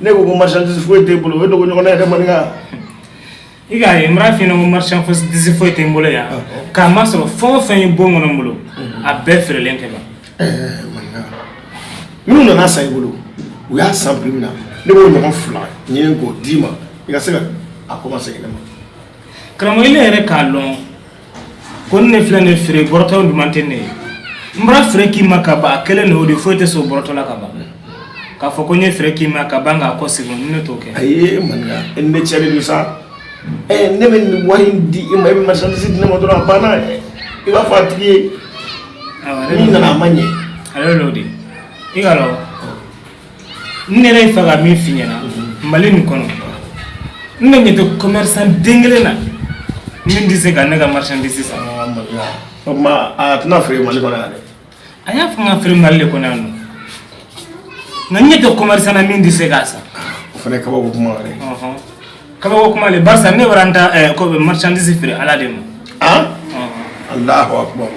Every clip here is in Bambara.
ne ko ko marchandise foyi t'e bolo o dogo ɲɔgɔn na yɛrɛ man i ka ye mara fini ko marchandise foyi tɛ n bolo yan k'a ma sɔrɔ fɛn o fɛn ye bon kɔnɔ n bolo a bɛɛ feerelen ka ban minnu nana san i bolo u y'a san prix min na ne b'o ɲɔgɔn fila ɲini k'o d'i ma i ka se ka a kɔmasegin ne ma karamɔgɔ ile yɛrɛ k'a dɔn ko ne filɛ nin feere bɔrɔtɔ duman tɛ ne ye n bara feere k'i ma ka ban a kelen de o de foyi tɛ se o bɔrɔtɔ la ka ban k'a fɔ ko n ye feere k'i ma ka ban k'a kɔ segin ne t'o kɛ ayi maninka e ni ne cɛ de don sa ɛ ne bɛ nin wari in di i ma i bɛ marchandise di ne ma dɔrɔn a banna dɛ i b'a fɔ a tigi ye n'i nana a ma ɲɛ ale de y'o di i k'a lɔn n yɛrɛ y'a fɛ ka min f'i ɲɛna mali nin kɔnɔ ne ɲɛ tɛ commerçant den kelen na min tɛ se ka ne ka marchandise san o tuma a tɛna feere mali kɔnɔ yan dɛ a y'a fɔ n ka feere mali de kɔnɔ yan nɔ nka n ɲɛ tɛ commerçant na min tɛ se k'a san o fana ye kabako kuma wɛrɛ ye kabako kuma le barisa ne bara n ta marchandise feere ala de ma alahu akubaru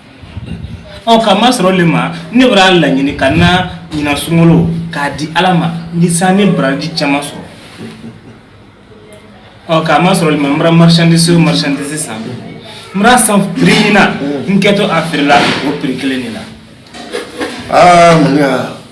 ɔ ka masɔrɔ le ma ne bara a laɲini ka n na ɲinan sunkalo k'a di ala ma ni san ni baraji caman sɔrɔ ɔ ka masɔrɔ le ma n bara marchandise o marchandise san n bara san prix min na n kɛtɔ a feerela o prix kelen de la aa mun y'a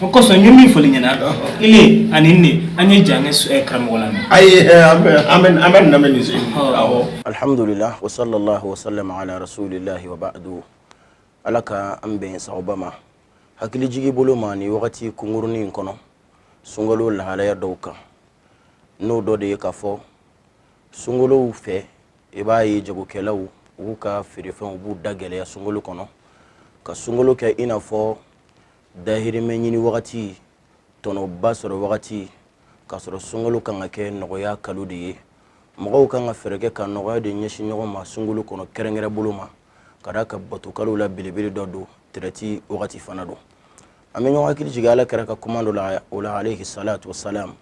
o kosɔn n ye min fɔli ɲɛna ile ani ne an ye jan kɛ karamɔgɔ lamɛn ayi an bɛ an bɛ an bɛ nin lamɛn nin se awɔ alhamdulillah wa sallallahu wa sallam ala rasulillah wa ba'du ala ka an bɛn sagoba ma hakili jigi bolo ma ni wagati kunkurunin in kɔnɔ sunkalo lahalaya dɔw kan n'o dɔ de ye k'a fɔ sunkalow fɛ i b'a ye jagokɛlaw u ka feerefɛnw b'u da gɛlɛya sunkalo kɔnɔ ka sunkalo kɛ i n'a fɔ dahirimɛ ɲini wagati tɔnɔba sɔrɔ wagati k'a sɔrɔ sunkalo kan ka kɛ nɔgɔya kalo de ye mɔgɔw kan ka fɛɛrɛ kɛ ka nɔgɔya de ɲɛsin ɲɔgɔn ma sunkalo kɔnɔ kɛrɛnkɛrɛn bolo ma ka d'a kan batokalow la belebele dɔ don tɛrɛti wagati fana don an bɛ ɲɔgɔn hakili jigin ala kira ka kuma dɔ la o la alayhi salatu wa salam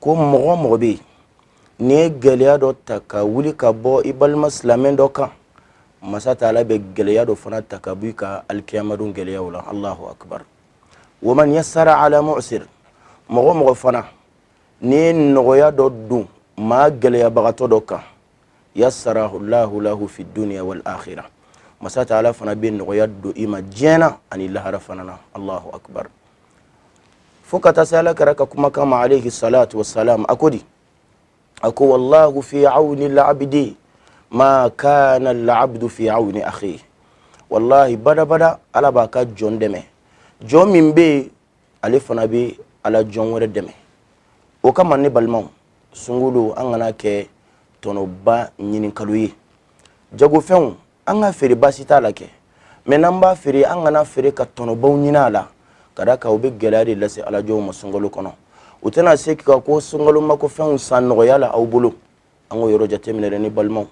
ko mɔgɔ mɔgɔ bɛ yen n'i ye gɛlɛya dɔ ta ka wuli ka bɔ i balima silamɛ dɔ kan masa taala bɛ gɛlɛya dɔ fana ta ka bɔ i ka alikiyama don gɛlɛyaw la alahu akibaru wa man yasara ala mu'sir mɔgɔ mɔgɔ fana n'i ye nɔgɔya dɔ don maa gɛlɛyabagatɔ dɔ kan yasara alahu lahu fi dunya wal akhirah masa taala fana bɛ nɔgɔya don i ma diɲɛ na ani lahara fana na alahu akibaru fo ka taa se ala kira ka kumakan ma alayhi salatu wasalam a ko di a ko wallahu fi awni labdi ma kana labdu fi awni akhi wallahi badabada ala b'a ka jɔn dɛmɛ jɔn min bɛ ale fana bɛ ala jɔn wɛrɛ dɛmɛ o kama ne balimaw sunkalo an kana kɛ tɔnɔba ɲininkalo ye jagofɛnw an ka feere baasi t'a la kɛ mɛ n'an b'a feere an kana feere ka tɔnɔbaw ɲini a la ka da kan o bɛ gɛlɛya de lase alajɔnw ma sunkalo kɔnɔ u tɛna se ka ko sunkalo mako fɛnw san nɔgɔya la aw bolo an k'o yɔrɔ jateminɛ dɛ ne balimaw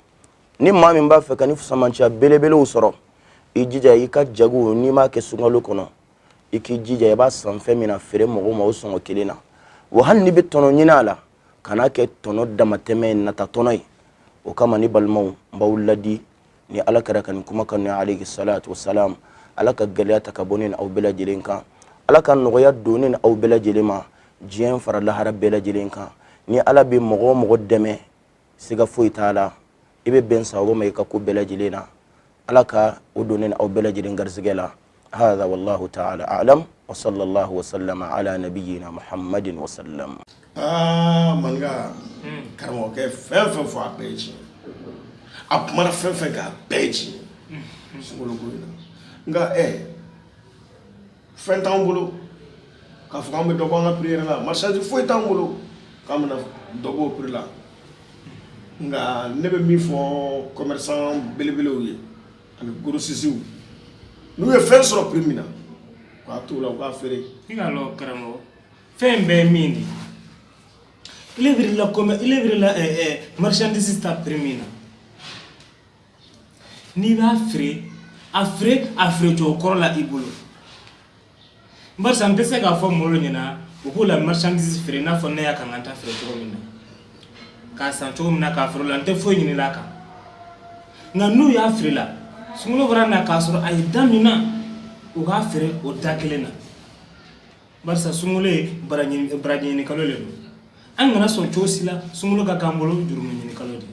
ni maa min b'a fɛ ka fisamanciya belebelew sɔrɔ i jija i ka jago n'i b'a kɛ sunkalo kɔnɔ i k'i jija i b'a san fɛn min na a feere mɔgɔw ma o sɔngɔ kelen na wa hali n'i bɛ tɔnɔ ɲini a la kana kɛ tɔnɔ damatɛmɛ nata tɔnɔ ye o kama ne balimaw n b'aw laadi ni ala kira ka nin kumakan ni alayhi salatu wasalam ala ka gɛlɛya ta ka bɔ ni aw bɛɛ lajɛlen kan ala ka nɔgɔya don ni aw bɛɛ lajɛlen ma diɲɛ fara lahara bɛɛ lajɛlen kan ni ala bɛ mɔgɔ o mɔgɔ dɛmɛ siga foyi t'a la i bɛ bɛn sababu ma i ka ko bɛɛ lajɛlen na ala ka o don ni aw bɛɛ lajɛlen garisɛgɛ la hada wallahu taala alam wa sallallahu wa sallam ala nabiyina muhammadin wa sallam aa manka karamɔgɔkɛ fɛn fɛn fɔ a bɛɛ ye tiɲɛ a kumana fɛn fɛn kan a bɛɛ ye tiɲɛ sunkalo ko in na nka ɛ fɛn t'an bolo k'a fɔ k'an bɛ dɔ bɔ an ka piri yɛrɛ la marchandise foyi t'an bolo k'an bɛna dɔ b'o piri la nka ne bɛ min fɔ kɔmɛrisan belebelew ye ani gorosisiw n'u ye fɛn sɔrɔ piri min na k'a t'o la u k'a feere i ka lɔ karamɔgɔ fɛn bɛɛ min de ile delila kɔmɛ ile delila marchandise ta piri min na N'i b'a feere a feere a feere cogo kɔrɔ la i bolo barisa n tɛ se k'a fɔ mɔgɔw ɲɛna u k'u la marchandise feere i n'a fɔ ne y'a ka n ka ta feere cogo min na k'a san cogo min na k'a feere o la n tɛ foyi ɲinina a kan nka n'u y'a feere la sunkalo bara na k'a sɔrɔ a ye da min na u k'a feere o da kelen na barisa sunkalo ye baraji baraji ɲini kalo de don an kana sɔn cogo si la sunkalo ka k'an bolo jurumu ɲini kalo de ye